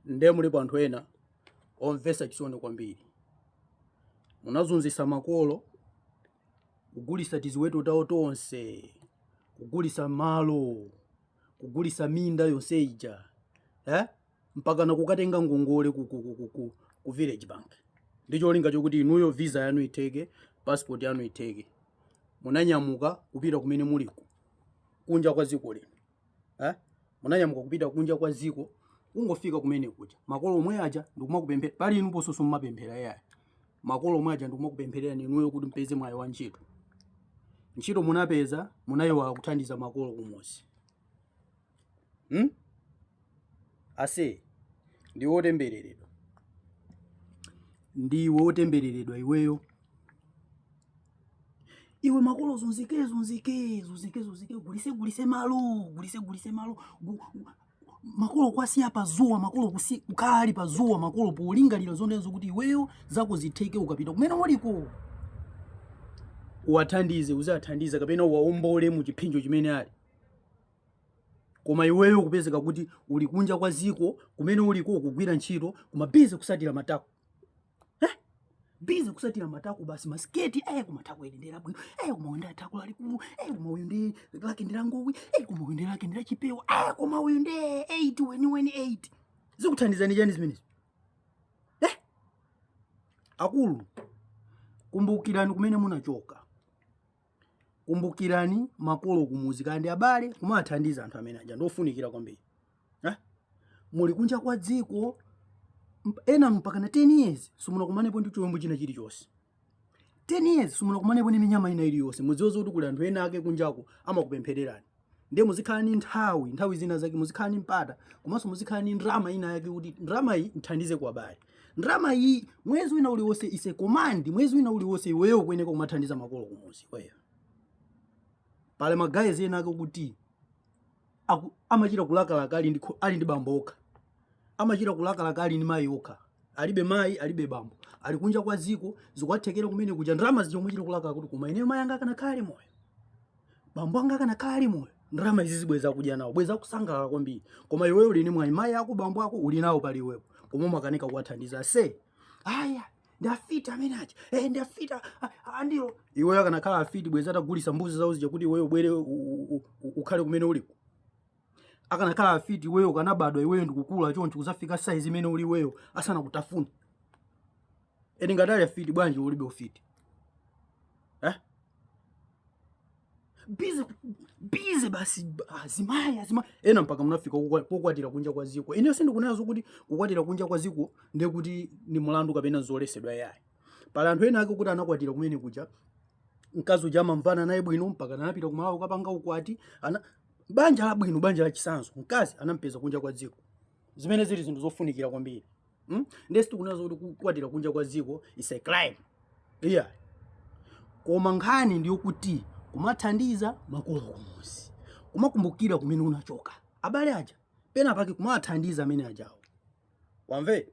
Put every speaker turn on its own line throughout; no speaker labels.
Nde mulipo anthu ena omvesa chisoni kwambiri. Munazunzisa makolo, kugulisa tiziweto tawo tonse, kugulisa malo, kugulisa minda yonse ija, eh? mpakana kukatenga ngongole ku, ku, ku, ku, ku, ku village bank ndi cholinga chakuti inuyo visa yanu itheke, passport yanu itheke. Munanyamuka kupita kumene muliku kunja kwa dziko lino. eh? munanyamuka kupita kunja kwa dziko kungofika kumene kuja makolo omwe aja ndikumakupemphera pali inu pososo mumapemphera yaya makolo omwe aja ndikumakupemphererani inuyo kuti mpeze mwayi wa ntchito ntchito munapeza munayiwala kuthandiza makolo kumuzi hmm? ase ndiwe otembereredwa ndiwe otembereredwa iweyo iwe makolo uzunzike uzunzike uzunzike uzunzike gulise gulise malo gulise gulise malo gu- gu- makolo kuwasiya pazuwa makolo kusi- kukhala ali pazuwa makolo polingalira zonse zokuti iweyo zako zitheke ukapita kumene uliko uwathandize uzawathandize kapena uwaombole mu chiphinjo chimene ali koma iweyo kupezeka kuti uli kunja kwa ziko kumene uliko kugwira ntchito koma bize kusatira matako bize kusatira matako basi masiketi eh koma tako ili ndira bwino eh koma uyu nde tako lalikulu eh koma uyu nde lake ndira ngowi eh koma uyu nde lake ndira chipewa eh koma uyu nde 8 weniweni 8 zikuthandizani chani zimenezi eh akulu kumbukirani kumene munachoka Kumbukirani makolo kumuzi kaya ndi abale kumathandiza anthu amene aja ndiofunikira kwambiri eh? muli kunja kwa dziko ena mpaka na 10 years simunakumanepo ndi chiwembu china chilichonse 10 years simunakumanepo ndi minyama ina iliyonse mudziwe zokuti kuli anthu ena ake kunjako amakupemphererani ndiye muzikhala ni nthawi nthawi zina zake muzikhala ni mpata komanso muzikhala ni ndrama ina yake kuti ndrama iyi nthandize kwa abale ndrama iyi mwezi wina uliwonse ise komandi mwezi wina uliwonse iweyo kuyeneka kumathandiza makolo kumuzi iweyo pali ma guys ena ake kuti aku- amachita kulakalaka ali ndi kho- ali ndi bambo okha amachita kulakalaka ali ndi mayi okha alibe mayi alibe bambo ali kunja kwa ziko zikuwathekera kumene kuja ndrama zija amachita kulakalaka kuti koma ineyo mayi anga akanakhala ali moyo bambo anga akanakhala ali moyo ndrama izizi bwezi akudya nawo bwezi akusangalala kwambiri koma iweyo uli ni mwayi mayi ako bambo ako uli nawo pali iweyo koma umakanika kuwathandiza se aya ndi afiti amene aja eh, ndi afiti andilo iweyo akanakhala afiti bwezi atagulisa mbuzi zawo zija kuti iweyo ubwere ukhale kumene uliku akanakhala afiti iweyo ukanabadwa iweyo ndikukula choncho kuzafika saizi imene uli iweyo asanakutafune Eni ngati ali afiti bwanji ulibe ufiti? Eh? Bize bize basi azimayi azimayi ena mpaka munafika kukwa- kukwatira kunja kwa ziko. Ine sindikunena zokuti kukwatira kunja kwa ziko ndiye kuti ni mulandu kapena zolesedwa yayi. Pali anthu ena ake kuti anakwatira kumene kuja mkazi uja amamvana naye bwino mpaka anapita ku Malawi kukapanga ukwati ana banja labwino banja lachisanzo mkazi anampeza kunja kwa dziko zimene zili zinthu zofunikira kwambiri Hmm? Ndiye sitikunena zokuti kukwatira kunja kwa dziko is a crime. Yeah. Koma nkhani ndi yokuti kumathandiza makolo kumuzi. Kumakumbukira kumene unachoka. Abale aja pena pake kumawathandiza amene ajawo. Wamve?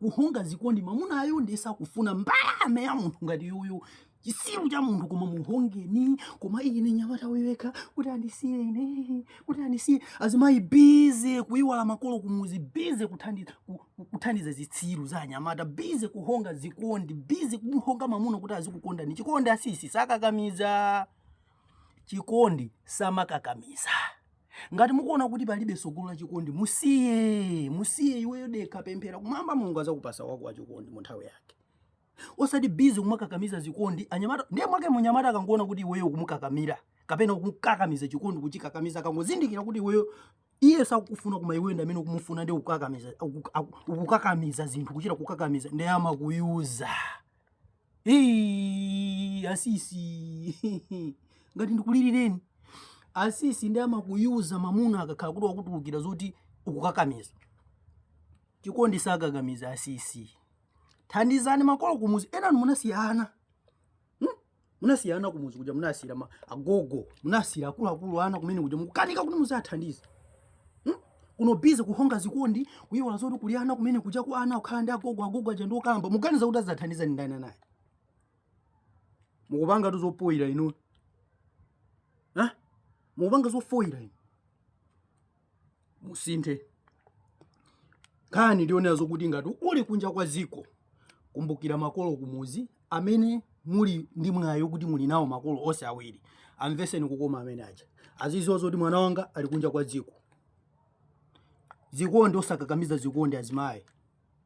kuhonga zikondi mamunayo ndiye sakufuna mbalame ya munthu ngati yuyu chisiru cha munthu koma muhongeni koma ine nyamata weka kuti andisiye ine kuti andisiye azimayi bize kuiwala makolo kumuzi bize kuthandiza kuthandiza zitsiru za anyamata bize kuhonga zikondi bize kumuhonga mamuna kuti azikukondani chikondi asisi sakakamiza chikondi samakakamiza ngati mukuona kuti palibe tsogolo la chikondi musiye musiye iweyo dekha pemphera kumwamba mulungu azakupasa wako wa chikondi mu nthawi yake osati bize kumakakamiza zikondi anyamata ndiye mwake munyamata akangoona kuti iweyo ukumukakamira kapena kumkakamiza chikondi kuchikakamiza akangozindikira kuti iweyo iye sakufuna koma iweyo ndamene ukumufuna ndi ukukakamiza ukukakamiza zinthu kuchita kukakamiza ndiye amakuyuza Hey, asisi ngati ndikulilireni asisi ndiye amakuyuza mamuna akakhala kuti wakutulukira zoti ukukakamiza chikondi sakakamiza asisi thandizani makolo kumuzi enanu munasiya ana hmm? munasiya ana kumuzi kuja munasiyira agogo munasiyira akuluakulu ana kumene kuja mukukanika kuti muziwathandiza hmm? kuno bize kuhonga zikondi kuyiwala zoti kuli ana kumene kuja ku ana akukhala ndi agogo agogo aja ndi okalamba muganiza kuti azathandiza ndi ndani anayi mukupangatu zopoyira inu ha mukupanga zofoyira inu musinthe nkhani ndi yonena zokuti ngati uli kunja kwa ziko kumbukira makolo kumuzi amene muli ndi mwayi wokuti muli nawo makolo onse awiri amveseni kukoma amene aja aziziwa zoti mwana wanga ali kunja kwa dziko zikondi osakakamiza zikondi azimayi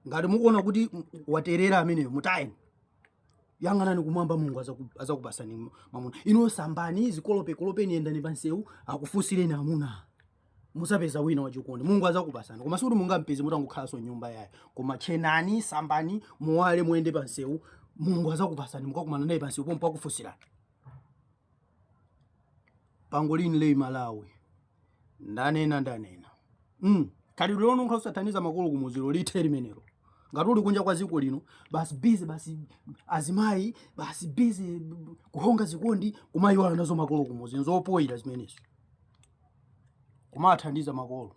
ngati mukuona kuti waterera ameneyo mutayeni yang'anani kumwamba mulungu azakupasani mamuna inu sambani zikolopekolopeni yendani pansewu akufunsireni amuna muzapeza wina wachikondi mulungu azakupasani koma sikuti mungampeze mutangokhalanso m'nyumba yayi koma tchenani sambani muwale muyende pansewu mulungu azakupasani mukakumana naye pansewu pompo akufunsirani pangolini leyi malawi ndanena ndanena mm. khalidwe lino lokhala osathandiza makolo kumuzi ilo lithe limenelo ngati uli kunja kwa dziko lino basi bizi basi azimayi basi bizi kuhonga zikondi kumayiwala nazo makolo kumuzi nzopoyira zimenezi kumathandiza makolo